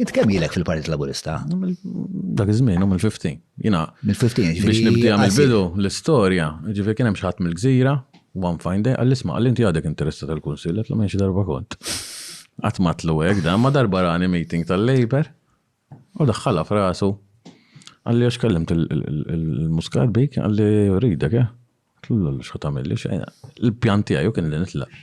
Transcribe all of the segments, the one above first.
Int kemm ilek fil-Partit Laburista? Dak iż-żmien u mill-15. Jiena mill-15 biex nibdija mill-bidu l-istorja, ġifieri kien hemm xi ħadd mill-gżira, one fine day, għall-isma' għal inti għadek interessa tal-kunsill, qed minn xi darba kont. Qatt matlu hekk dan, ma darba rani meeting tal-Labor u daħħalha f'rasu. Għalli għax kellimt il-muskat bik, għalli ridek, eh? Tlu l-xħu tamilli, il-pjanti għaju kien li nitlaq.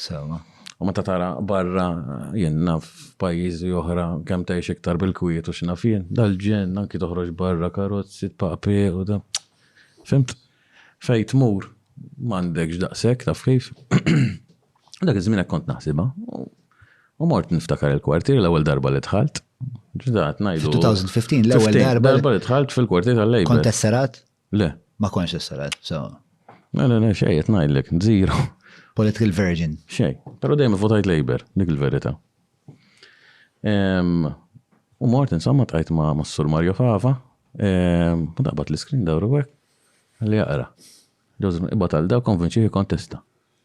Sewa. U meta tara barra jien naf pajjiżi oħra kemm tgħix iktar bil-kwiet u x'naf jien, dal-ġenn anki toħroġ barra karozzi tpaqpi u da. Fimt? Fejn tmur m'għandekx daqshekk taf kif. Dak iż-żmien hekk kont naħsibha. U mort niftakar il-kwartier l-ewwel darba li dħalt. Ġdat ngħidu. 2015 l-ewwel darba. Darba li dħalt fil-kwartier tal-Lejba. Kont tesserat? Le. Ma konx issa le, so. Le, le, le, xej, qed ngħidlek, zero. Political virgin. Xej, però dejjem votajt Labour, dik il-verità. U mort insomma tqajt ma' Massur Mario Fava, u daqbat l-iskrin dawru hekk li jaqra. Joseph ibad għal daw konvinċi kontesta.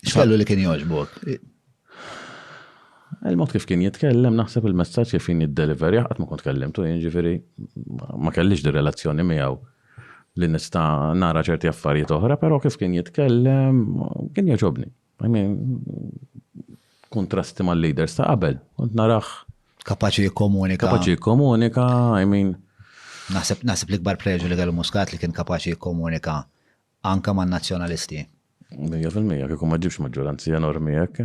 X'kellu li kien jogħġbok? Il-mod kif kien jitkellem, naħseb il-messaġġ kif kien jiddeliver, jaqgħad ma kont kellimtu, jiġifieri ma kellix di relazzjoni miegħu li nista' nara ċerti affarijiet oħra, però kif kien jitkellem, kien jogħġobni. I mean, kontrasti mal-leaders ta' qabel, kont narax. Kapaċi jikkomunika. Kapaċi jikkomunika, I mean. Naħseb naħseb l-ikbar preġu li kellu Muscat li kien kapaċi jikkomunika Anke man-Nazzjonalisti. Mija fil-mija, kieku ma ġibx maġġoranzi enormi hekk.